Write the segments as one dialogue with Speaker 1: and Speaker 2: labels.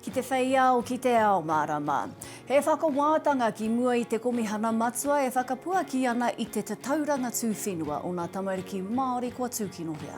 Speaker 1: Ki te whei ao, ki te ao mārama. He whakawātanga ki mua i te Komihana Matua e whakapuaki ana i te tatauranga tūwhenua o ngā tamariki Māori kua tūkinohia.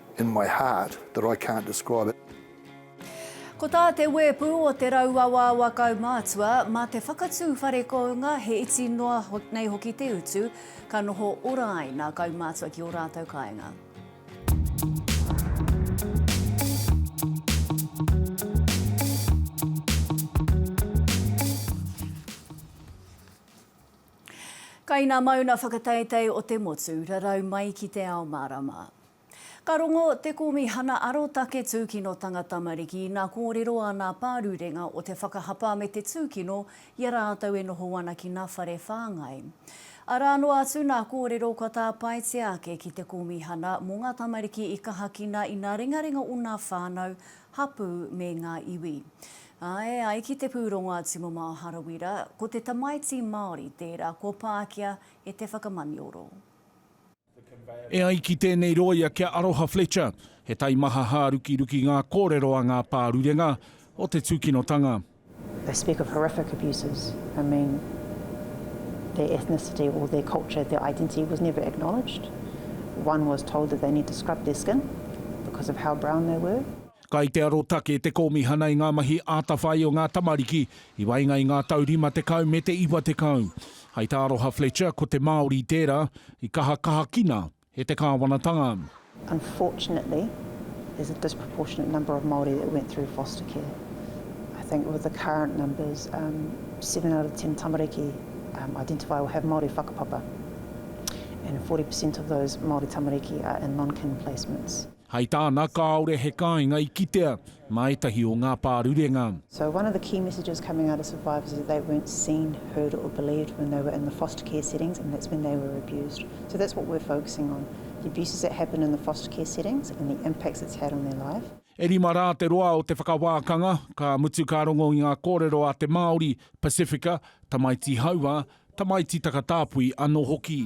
Speaker 2: in my heart that I can't describe it.
Speaker 1: Ko tā te wēpu o Te Rauawaawa kaumātua, mā te whakatū whare kounga he iti noa nei hoki te utu, ka noho ora ai nā kaumātua ki ō rātou kāinga. Kaina mauna whakateitei o te motu, rarau mai ki te ao mārama. Ka rongo Te Kōmihana Arotake Tūkinotanga Tamariki ina kōrero a nā pārurenga o te whakahapa me te tūkino i a rātou e noho ana ki nā whare whāngai. Arā noa atu nā kōrero kua tāpaetia ake ki te Kōmihana mō ngā tamariki i kahakina i nā ringaringa o nā whānau, hapū me ngā iwi. Ā, e ai ki te pūrongo a Tumamao Harawira, ko te tamaiti Māori tērā kua pākia e te whakamanioro.
Speaker 3: E ai ki tēnei rōia kia Aroha Fletcher, he taimaha hārukiruki ngā kōrero a ngā pārurenga o te tūkinotanga. They speak
Speaker 4: of horrific abuses, I mean, their ethnicity or their culture, their identity was never acknowledged. One was told that they need to scrub their skin because of how brown they were. Kai te arotake
Speaker 3: te Kōmihana i ngā mahi atawhai o ngā tamariki i waenga i ngā tau rima tekau me te iwa tekau. Hai tā Aroha Fletcher ko te Māori tērā i kaha kahakina e te kāwanatanga. Unfortunately
Speaker 4: there's a disproportionate number of Māori that went through foster care. I think with the current numbers seven out of ten tamariki identify or have Māori whakapapa and forty percent of those Māori tamariki are in non-kin placements. Hai tāna
Speaker 3: kāore he kāinga i kitea mā ētahi o ngā pārurenga. So one of the key
Speaker 4: messages coming out of survivors is that they weren't seen, heard or believed when they were in the foster care settings and that's when they were abused. So that's what we're focusing on, the abuses that happened in the foster care settings and the impacts it's had on their life. E rima rā te
Speaker 3: roa o te whakawākanga, ka mutu ka rongo i ngā kōrero a te Māori, Pasifika, tamaiti hauā, tamaiti takatāpui anō hoki.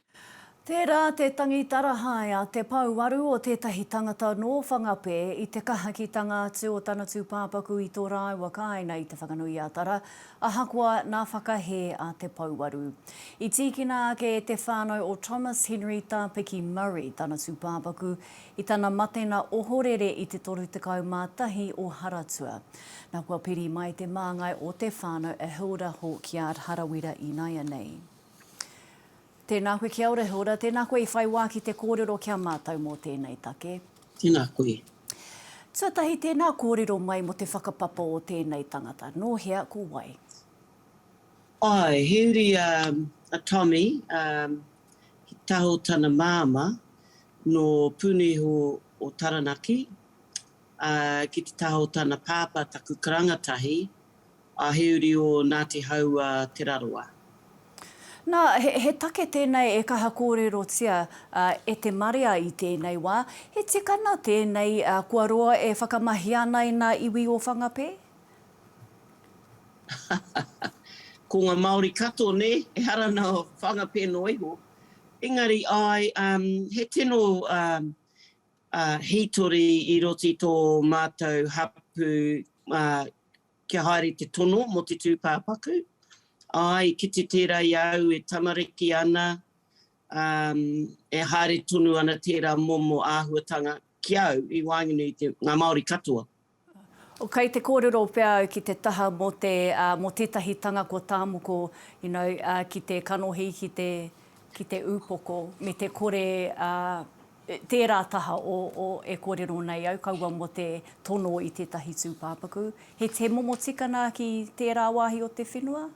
Speaker 1: Tērā te tangi tarahae a Te Pouaru o tētahi tangata nō Whangapē i te kahakitanga atu o tana tūpāpaku i tō rāua kāinga i Te Whanganui-a-Tara, ahakoa nā whakahē a Te Pouaru. I tīkina ake e te whānau o Thomas Henry Tāpiki Murray tana tūpāpaku i tana matena ohorere i te 31 o Haratua. Nā kua piri mai te māngai o te whānau a Hilda Hawkyard Harawira ināianei. Tēnā koe kia ora, Hilda. Tēnā koe i whai wā ki te kōrero ki a mātou mō tēnei take. Tēnā koe.
Speaker 5: Tuatahi,
Speaker 1: tēnā kōrero mai mō te whakapapa o tēnei tangata. Nō hea, ko wai?
Speaker 5: Āe, he uri a Tommy, he taho tana māmā, nō Puniho o Taranaki, ā, ki te taho tana pāpā, taku karanga tahi, A he uri o Ngāti Haua Te Rarawa. Nā,
Speaker 1: he take tēnei e kaha kōrerotia e te marea i tēnei wā. He tikanga tēnei kua roa e whakamahia ana i ngā iwi o Whangapē?
Speaker 5: Ko ngā Māori katoa, nē, ehara nā Whangapē noa iho. Engari, āe, he tino hītori i roto i tō mātou hapū Kia haere te tono mō te tūpāpaku. Āe, kite tērā i a au e tamariki ana, ā, e haere tonu ana tērā momo āhuatanga ki au i waenganui i te, ngā Māori katoa. Oh,
Speaker 1: kei te kōrero pea au ki te taha mō te, ā, mō tētahi tanga ko Tāmoko, you know, ā, ki te kanohi, ki te, ki te upoko, me te kore, ā, Tērā taha o o e kōrero nei au kaua mō te tono i tētahi tūpāpaku. He he momo tikana ki tērā wāhi o te whenua?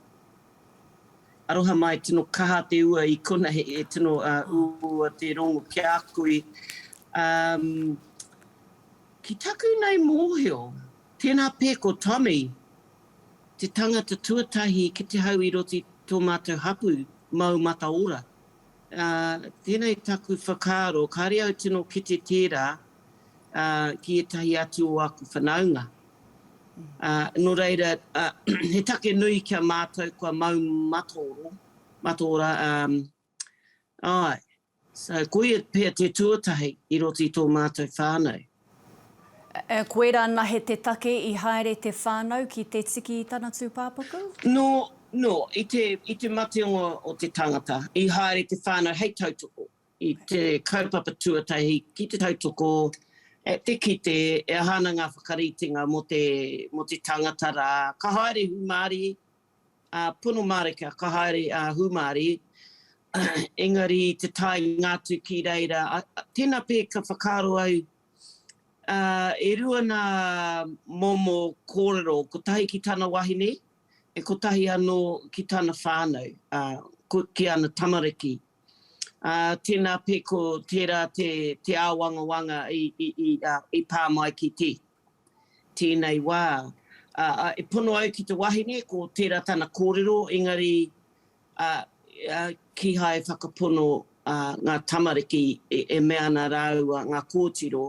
Speaker 5: Aroha mai, tino kaha te ua i kona he e tino uua te rongo ki a koe. Um, ki taku nei mōhio, tēnā pē ko Tommy te tangata tuatahi ki te hau i roto i tō mātou hapu mau mataora. Ā, tēnei taku whakaaro, kāre au tino kite tērā, ā, ki ētahi atu o aku whanaunga. Ā, nō reira, ā, he take nui ki a mātou kua mau mataoro, mataora, ā, āe. So, koia pea te tuatahi i roto i tō mātou whānau.
Speaker 1: Koirā anahe te take i haere te whānau ki te tiki i tana tūpāpaku? Nō, nō,
Speaker 5: i te, i te matenga o te tangata, i haere te whānau hei tautoko i te kaupapa tuatahi ki te tautoko at te kite e aha ana ngā whakaritenga mō te, mō te tangata rā. Ka haere hūmārie. a Pono Marika ka haere a Hūmārie engari i te taenga atu ki reira tena pē ka whakaaro au e rua nā momo kōrero kotahi ki tana wahine e kotahi anō ki tana whānau ki ana tamariki a tena pē ko tērā te āwangawanga i pā mai ki te. tēnei wā, ā, e pono au ki te wahine, ko tērā tana kōrero, engari, ā, ā, kīhai e whakapono, ā, ngā tamariki e, e mea ana rāua ngā kōtiro,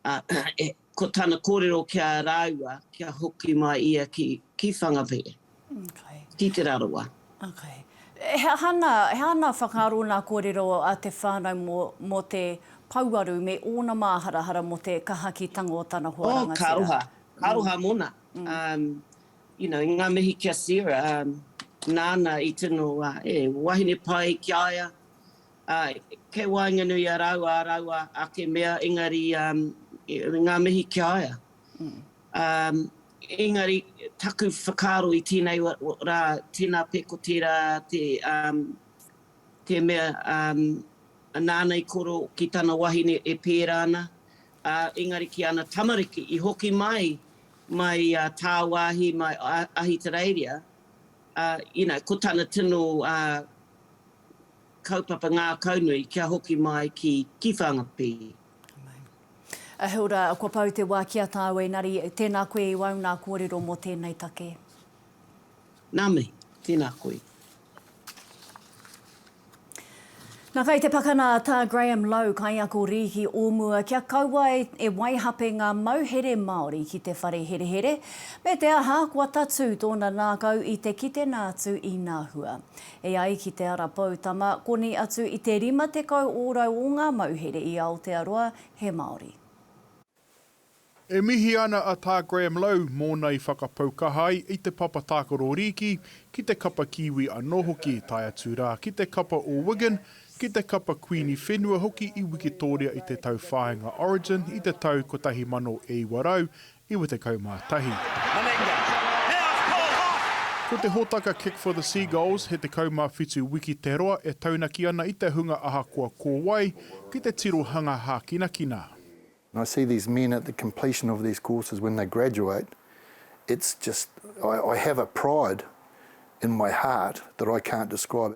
Speaker 5: ā, e, ko tana kōrero ki a rāua, kia hoki mai ia ki, ki Whangawhē. Tītera rawa. He
Speaker 1: aha ngā whakaaro, ngā kōrero a te whānau mō te pouaru me ōna māharahara mō te kaha ki tanga o tana hoa rangatira? Ka aroha, ka aroha mōna.
Speaker 5: You know, ngā mihi ki a Sarah, nāna i tino he wahine pai ki a ia. Kei waenganui i a rāua ā rāua ake mea, engari ngā mihi ki a ia. Engari, taku whakaaro i tēnei rā, tēnā pea ko tērā te mea nāna i koro ki tana wahine e pērā ana, ā, engari ki ana tamariki i hoki mai, mai tāwāhi, mai Ahitereiria, ā, you know, ko tana tino kaupapa ngākaunui kia hoki mai ki Whangapi.
Speaker 1: He ora, kua pau te wā ki a tāu Engari, tēnā koe i wau nā kōrero mō tēnei take.
Speaker 5: Nā mihi, tēnā koe.
Speaker 1: Nā, kei te pakana tā Graham Lowe, kaiako rīki o mua, kia kaua e waihape ngā mauhere Māori ki te whare herehere, me te aha, kua tatū tōna nākau i te kite nā atu i nā hua. E ai ki Te Ara Poutama, koni atu i te 50 ōrau o ngā mauhere i Aotearoa he Māori.
Speaker 6: E mihi ana a Tā Graham Lowe mōna i whakapau kaha ai i te papa tākaro rīki, ki te kapa Kiwi anō hoki, tae atu rā ki te kapa o Wigan, ki te kapa Kuini Whenua hoki i Wikitōria i te tauwhāinga Origin i te tau 1900, 91. Meninga, he aha ko Hawke? Ko te hōtaka Kick for the Seagulls he 17 wiki te roa e taunaki ana i te hunga ahakoa ko wai ki te tirohanga hākinakina. I see
Speaker 2: these men at the completion of these courses when they graduate it's just I have a pride in my heart that I can't describe.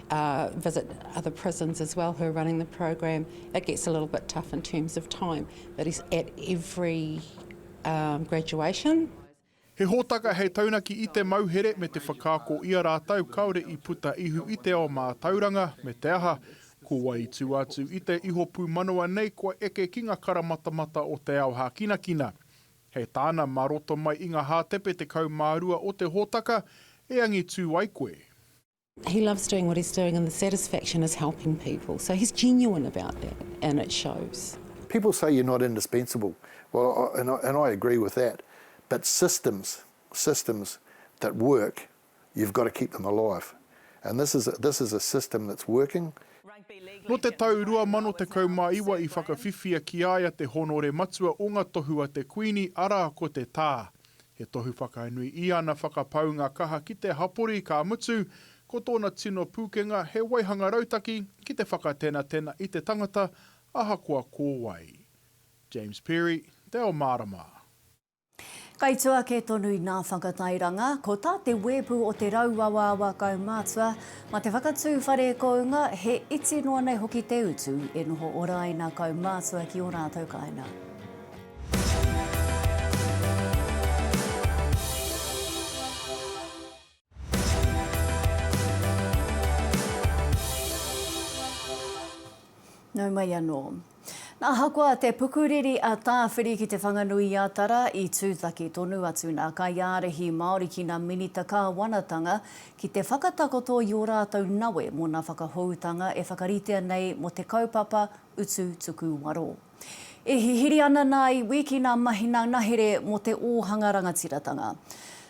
Speaker 7: visit other prisons as well who are running the program, it gets a little bit tough in terms of time, but he's at every um, graduation. He
Speaker 6: hōtaka hei taunaki i te mauhere me te whakaako i a rātou kāore i puta ihu i te ao mātauranga, me te aha, ko wai i tū atu i te iho pūmanawa nei kua eke ki ngā karamatamata o te ao hākinakina. He tāna mā roto mai i ngā hātepe 12 o te hōtaka e angitū ai koe. He loves
Speaker 7: doing what he's doing and the satisfaction is helping people. So he's genuine about that and it shows. People say you're not
Speaker 2: indispensable well and I, and I agree with that but systems systems that work you've got to keep them alive and this is a, this is a system that's working. Nō te
Speaker 6: tau 2019 i whakawhiwhia ki a ia te hōnore matua o ngā tohu a te Kuini, arā ko te Tā. He tohu whakainui i ana whakapaunga kaha ki te hapori, ka mutu, ko tōna tino pūkenga he waihanga rautaki ki te whakatenatena i te tangata, ahakoa ko wai. James Perry, Te Ao Mārama.
Speaker 1: Kaitū ake tonu i ngā whakatairanga, ko tā te wēpu o Te Rauawaawa Kaumātua, mā te whakatū whare kounga, he iti noa nei hoki te utu e noho ora ai nā kaumātua ki ō rātou kāinga. Nau mai anō. Nā, ahakoa te pukuriri a Tāwhiri ki Te Whanganui-a-Tara, i tūtaki tonu atu nā kaiārahi Māori ki nā Minita Kāwanatanga ki te whakatakoto i ō rātou nawe mō nā whakahoutanga e whakaritea nei mō te kaupapa utu tuku waro. E hihiri ana nā iwi ki nā mahina ngahere mō te ōhanga rangatiratanga.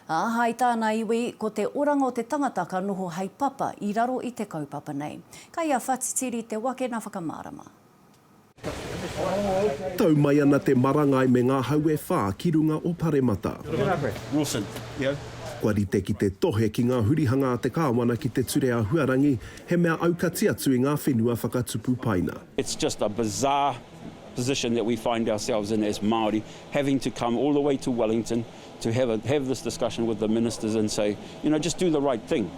Speaker 1: Ā, hai tā nā iwi, ko te oranga o te tangata ka noho hai papa i raro i te kaupapa nei. Kai a Whatitiri te wakena whakamārama.
Speaker 8: Tau mai ana te marangai me ngā hau e whā ki runga o Paremata.
Speaker 9: Kua
Speaker 8: rite ki te tohe ki ngā hurihanga a te Kāwana ki te ture ahuarangi, he mea aukati atu i ngā whenua whakatupu paina. It's just a
Speaker 9: bizarre position that we find ourselves in as Māori, having to come all the way to Wellington to have a have this discussion with the ministers and say, you know, just do the right thing.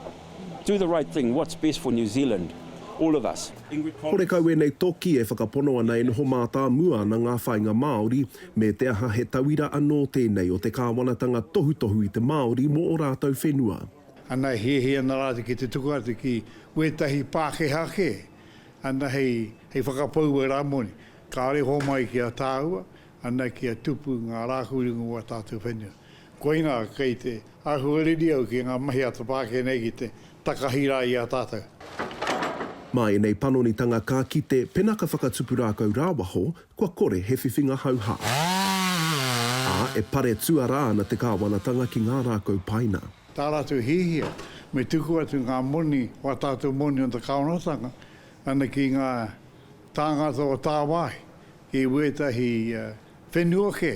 Speaker 9: Do the right thing, what's best for New Zealand, all of us. Ingrid Collins. Horekau ēnei
Speaker 8: toki e whakapono ana e noho mātāmua ana ngā whāinga Māori, me te aha he tauira anō tēnei o te kāwanatanga tohutohu i te Māori mō ō rātou whenua. Ana e hiahia
Speaker 10: ana rātou ki te tuku atu ki wētahi Pākehā kē. ana hei whakapau e Ramoni, kāore homai ki a tāua, ana kia tupu ngā rākau ringa o ā tātou whenua. Koinā, kei te ahuariri au ki ngā mahi a te pākē nei ki te takahi rā i a tātou. Mā
Speaker 8: ēnei panonitanga ka kite pena ka whakatupu rākau rāwaho, kua kore he whiwhinga hauhā. Ā, e pare tuarā ana te kāwanatanga ki ngā rākau paina. tā rātou hiahia
Speaker 10: me tuku atu ngā moni o ā tātou moni o te kāwanatanga ana ki ngā tāngata o tāwāhi ki wētahi whenua kē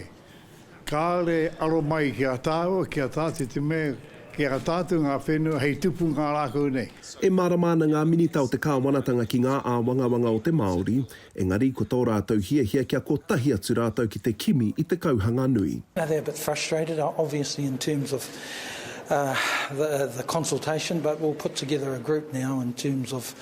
Speaker 10: kāore aro mai ki a tāua, ki a tātou te mea ki a tātou ngā whenua hei tupu ngā rākau nei. E mārama ana ngā
Speaker 8: Minita o te kāwanatanga ki ngā āwangawanga o te Māori Engari ko tō rātou hiahia kia kotahi atu rātou ki te kimi i te kauhanga nui. Now they're a bit frustrated
Speaker 11: obviously in terms of the the consultation but we'll put together a group now in terms of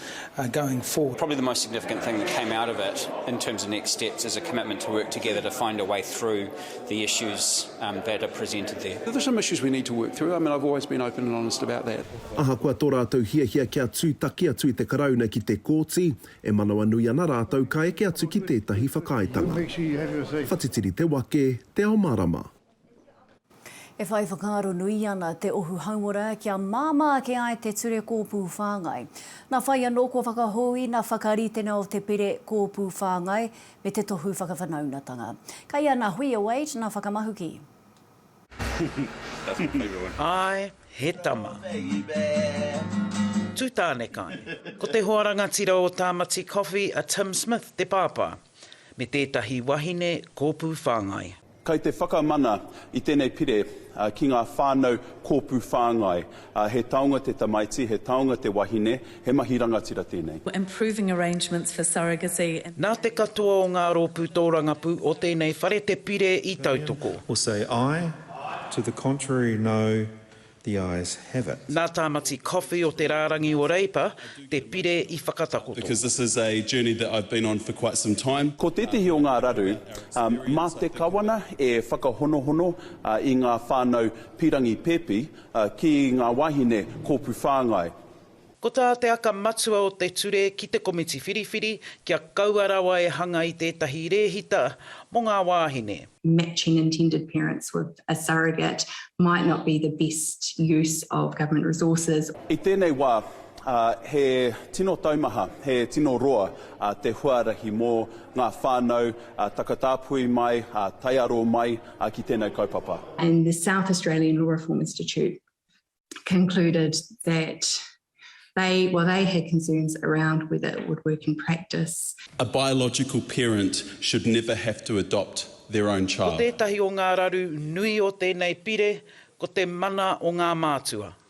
Speaker 11: going forward. Probably the most significant thing
Speaker 12: that came out of it in terms of next steps is a commitment to work together to find a way through the issues that are presented there. There are some issues we need to work
Speaker 13: through, I mean I've always been open and honest about that. Ahakoa tō rātou
Speaker 8: hiahia kia tūtaki atu i te Karauna ki te Kōti, E manawanui ana rātou ka eke atu ki tētahi whakaaetanga. Whatitiri te wake, te ao marama.
Speaker 1: E whai whakaaro nui ana te ohu hauora kia māmā ake ai te ture kōpū whāngai. Nā whai anō kua whakahou i nā whakaritenga o te pire kōpū whāngai me te tohu whakawhanaungatanga. Kei a nā Huia Wade nā whakamahuki.
Speaker 14: Āe, he tama. Tū tāne kai. Ko te hoa rangatira o Tāmati Coffee a Tim Smith te pāpā, me tētahi wahine kōpū whāngai. Kai te whakamana
Speaker 13: i tēnei pire ki ngā whānau kōpū whāngai, He taonga te tamaiti, he taonga te wahine, he mahi rangatira tēnei. Improving arrangements
Speaker 15: for surrogacy and. Nā te katoa
Speaker 14: o ngā rōpū tōrangapū o tēnei whare te pire
Speaker 16: i tautoko.
Speaker 14: Will
Speaker 16: say aye,
Speaker 14: to
Speaker 16: the contrary no, the ayes have it. Nā Tāmati Coffey
Speaker 14: o te rārangi o Reipa te pire i whakatakoto. Because this is a
Speaker 13: journey that I've been on for quite some time. Ko tētehi o ngā raru, mā te Kawana e whakahonohono i ngā whānau pīrangi pēpi Ki ngā wāhine kōpū whāngai. Ko tā
Speaker 14: te aka matua o te ture ki te komiti whiriwhiri kia kaua rawa e hanga i tētahi rēhita mō ngā wāhine. matching intended
Speaker 17: parents with a surrogate might not be the best use of government resources. I tēnei wā,
Speaker 13: he tino taumaha, he tino roa te huarahi mō ngā whānau takatāpui mai, taiaro mai. a ki tēnei kaupapa. And the South
Speaker 17: Australian Law Reform Institute concluded that they, well, they had concerns around whether it would work in practice. A biological
Speaker 13: parent should never have to adopt their own child. Ko tētahi o ngā raru
Speaker 14: nui o tēnei pire ko te mana o ngā mātua.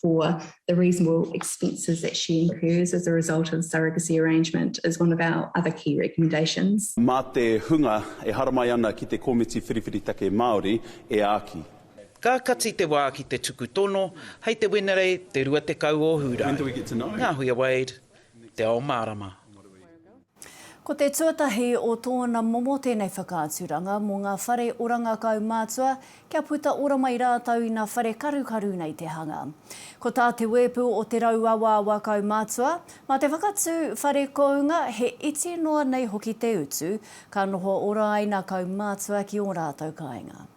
Speaker 17: for the reasonable expenses that she incurs as a result of surrogacy arrangement is one of our other key recommendations. Mā te hunga
Speaker 13: e haramai ana ki te Komiti Whiriwhiri Take Māori e āki. Ka kati
Speaker 14: te wā ki te tuku tono hei te Wenerei te 20 o Hūrae. Ngāhuia
Speaker 13: Wade,
Speaker 14: Te Ao Mārama.
Speaker 1: Ko te tuatahi o tōna momo tēnei whakaaturanga mō ngā whare oranga kaumātua kia puta ora mai rātou ina whare karukaru nei te hanga. Ko tā te wēpu o Te Rauawaawa Kaumātua, mā te whakatū whare kounga he iti noa nei hoki te utu ka noho ora ai nā kaumātua ki ō rātou kāinga.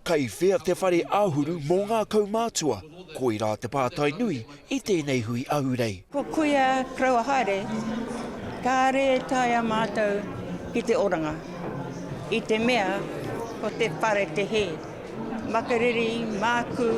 Speaker 1: Kei
Speaker 18: whea te whare āhuru mō ngā kaumātua? Koirā te pātai nui i tēnei hui ahurei. Ko Kuia
Speaker 19: Koroua haere, kāre e taea mātou ki te oranga, i te mea ko te whare te hē. Makariri, mākū,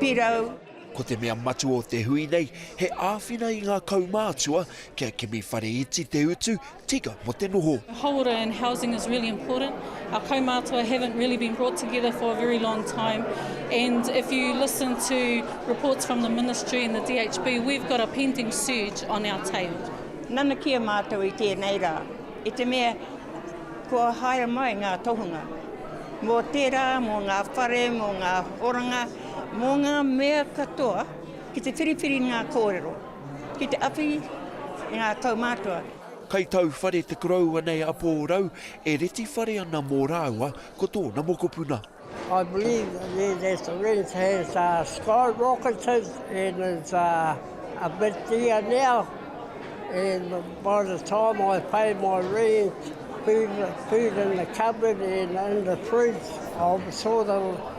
Speaker 19: pirau. Ko te mea
Speaker 18: matua o te hui nei, he āwhina i ngā kaumātua kia kimi whare iti te utu, tika mō te noho. Hauora and housing
Speaker 20: is really important. Our kaumātua haven't really been brought together for a very long time and if you listen to reports from the ministry and the DHB, we've got a pending surge on our tail. Nanakia
Speaker 19: mātou i tēnei rā, i te mea kua haere mai ngā tohunga mō tērā, mō ngā whare, mō ngā oranga. Mō ngā mea katoa, ki te whiriwhiri ngā kōrero, ki te awhi i ngā kaumātua. Kai tau
Speaker 18: whare te koroua nei a Pōrau, e reti whare ana mō rāua ko tōna mokopuna. I believe
Speaker 21: that there is a ridge has sky rockets and is a bit dear now and by the time I pay my rent, food in the cupboard and in the fridge, I'm sort of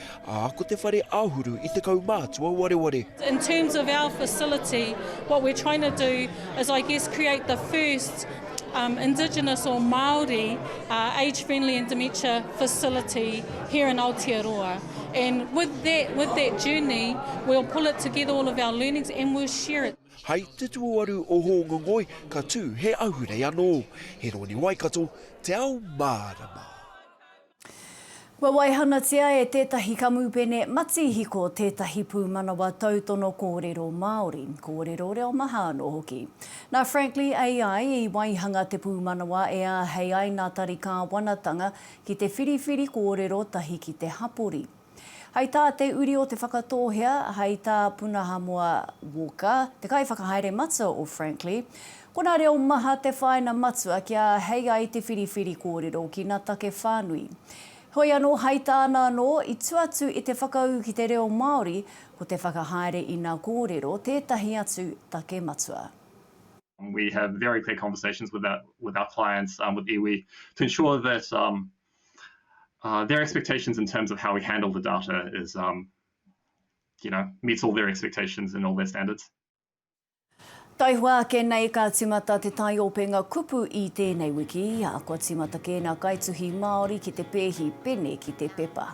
Speaker 18: ā, ko te whare āhuru i te kaumātua wareware. In terms of our
Speaker 20: facility, what we're trying to do is I guess create the first um, Indigenous or Māori uh, age-friendly and dementia facility here in Aotearoa. And with that, with that journey, we'll pull it together all of our learnings and we'll share it. Hai te tuaru
Speaker 18: o Hōngongoi, ka tū he ahurei anō. He roni Waikato, te ao mārama.
Speaker 1: Kua waihanatia e tētahi kamupene matihiko tētahi pūmanawa tautono kōrero Māori, kōrero reo maha anō hoki. Nā Frankly AI i waihanga te pūmanawa e āhei ai ngā tari kāwanatanga ki te whiriwhiri kōrero tahi ki te hapori. Hai tā Te Uri o Te Whakatōhea, hai tā Punahamoa Walker, te kaiwhakahaere matua o Frankly, ko nā reo maha te whāina matua kia hei ai te whiriwhiri kōrero ki nā take whānui. Heoi anō, hai tāna anō, i tua atu i te whakaū ki te reo Māori, ko te whakahaere i nā kōrero tētahi atu take matua. We
Speaker 22: have very clear conversations with our clients, with iwi, to ensure that uh, their expectations in terms of how we handle the data is, um, you know, meets all their expectations and all their standards.
Speaker 1: Taihua ake nei ka timata te tai openga kupu i tēnei wiki, a kua timata kēna kaituhi Māori ki te pēhi pene ki te pepa.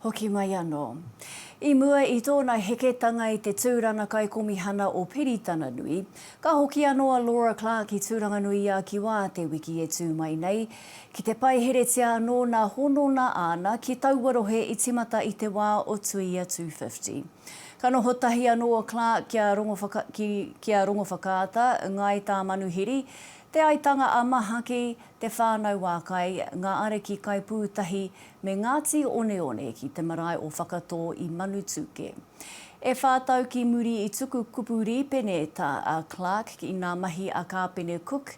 Speaker 1: Hoki mai anō. I mua i tōna heketanga i te Tūrana Kaikomihana o Piritana-nui, ka hoki anō a Laura Clark i Tūranganui-i-a-Kiwa te wiki e tū mai nei, ki te paiheretia anō nā honona āna ki taua rohe i timata i te wā o Tuia 250. Ka noho tahi anō a Clark ki a Rongowhaka, ki, ki a Rongowhakaata, Ngāi Tāmanuhiri, Te Aitanga-a-Mahaki, Te Whānau-ā-Kai, Ngā Ariki Kaipūtahi, me Ngāti Oneone ki te marae o Whakatō i Manutūkē. E whā tau ki muri i tuku kupu rīpene tā a Clark i ngā mahi a Kāpene Cook,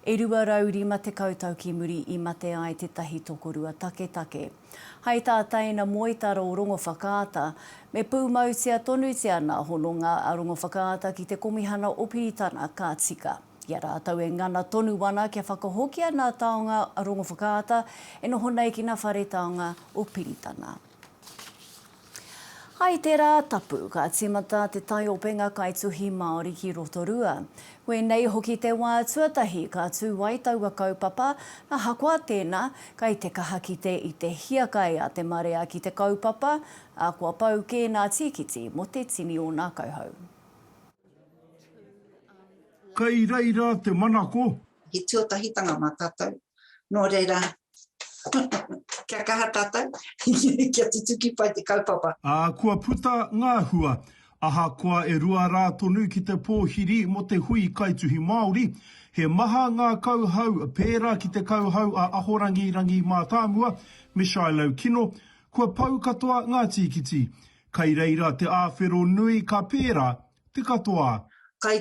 Speaker 1: e 250 tau ki muri i mate ai tētahi tokorua taketake. Hai tā tēina moetaro o Rongowhakaata, me pūmautia tonutia ngā hononga a Rongowhakaata ki te Komihana o Piritana ka tika. I a rātou e ngana tonu ana kia whakahokia nā taonga Rongowhakaata e noho nei ki nā whare taonga o Piritana. Hai tērā tapu, ka tīmata te taiopenga kaituhi Māori ki Rotorua. Koinei hoki te wā tuatahi ka tū ai taua kaupapa, ahakoa tēnā, kai te kaha kite i te hiakai a te marea ki te kaupapa, ā, kua pau kē nā Tīkiti mō te tini o nā kauhau.
Speaker 4: Kei reira te manako. He tuatahitanga
Speaker 3: mā tātou, nō reira, kia kaha tātou, kia tutuki pai te kaupapa. Ā, kua puta
Speaker 4: ngā hua. Ahakoa e rua rā tonu ki te pōhiri mō te hui kaituhi Māori, he maha ngā kauhau pērā ki te kauhau a Ahorangi Rangi Mātāmua me Shiloh Kino, kua pau katoa ngā tīkiti. Kai reira te āwhero nui ka pērā te katoa. Kai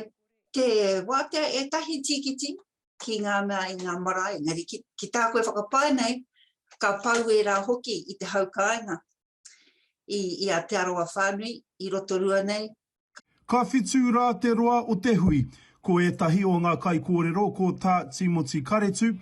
Speaker 3: te wātea ētahi tīkiti ki ngā mea i ngā marae, engari ki tā koe whakapae nei, ka pau ērā hoki i te hau kāinga i a Te Arawa whānui i Rotorua nei, Ka whitū
Speaker 4: rā te roa o te hui. Ko ētahi o ngā kaikōrero ko tā Tīmoti Karetu,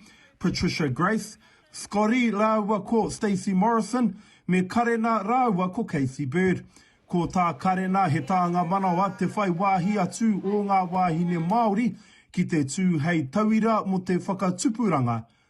Speaker 4: Patricia Graith, Scotty rāua ko Stacey Morrison, me Karena rāua ko Kathy Bird. Ko tā Karena he tānga manawa te whai wāhi atu o ngā wāhine Māori ki te tū hei tauira mō te whakatupuranga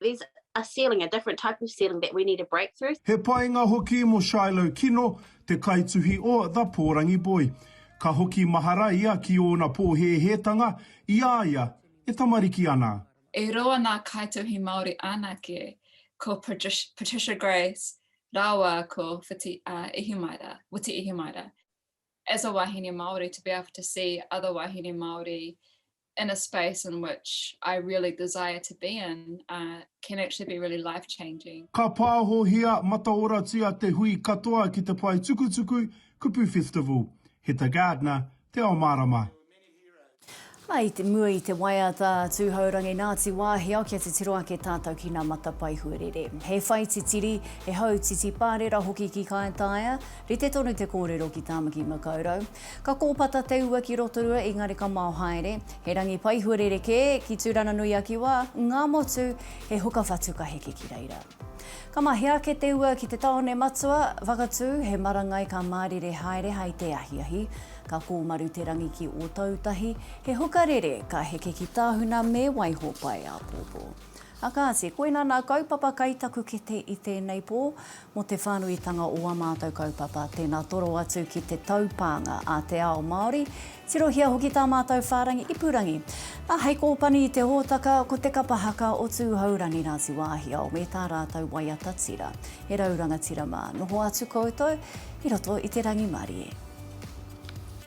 Speaker 23: there's a ceiling, a different type of ceiling that we need to break through. He painga hoki
Speaker 4: mo Shiloh Kino, te kaituhi o The Pōrangi Boy. Ka hoki mahara ia ki ōna pōhēhētanga i a ia e tamariki ana. E roa nā
Speaker 24: kaituhi Māori anake, ko Patricia Grace rāua ko Whiti Ihimaera, Witi Ihimaera. As a wahine Māori, to be able to see other wahine Māori in a space in which I really desire to be in uh, can actually be really life changing. Ka pāhohia
Speaker 4: mataoratia te hui katoa ki te pae tukutuku Kupu Festival. He ta Gardner, Te Ao Mārama.
Speaker 1: I te mua i te waiata Tūhourangi Ngāti Wāhiao kia titiro ake tātou ki ngā matapae huarere. He whai titiri, he hau titi pārera hoki ki Kāetaia, rite tonu te kōrero ki Tāmaki Makaurau. Ka kōpata te ua ki Rotorua engari ka mao haere, he rangi paihu rerekē, ki Tūranganui-a-Kiwa, Ngāmotu, he huka whatu ka heke ki reira. Ka mahea ake te ua ki te tāone matua, Whakatū, he marangai ka mārire haere hai te ahiahi. Ka kōmaru te rangi ki Ōtautahi, he huka rere ka heke ki Tāhuna me Waihopai-āpōpō. A Kāti, koina nā kaupapa kai taku kete i tēnei pō, mō te whānuitanga o ā mātou kaupapa, tēnā toro atu ki te taupānga a te ao Māori, tirohia hoki tā mātou whārangi ipurangi. Nā, hei kōpani i te hōtaka, ko te kapa haka o Tūhourangi Ngāti Wāhiao me tā rātou waiata tira. He rau rangatira mā, noho atu koutou i roto i te rangimarie.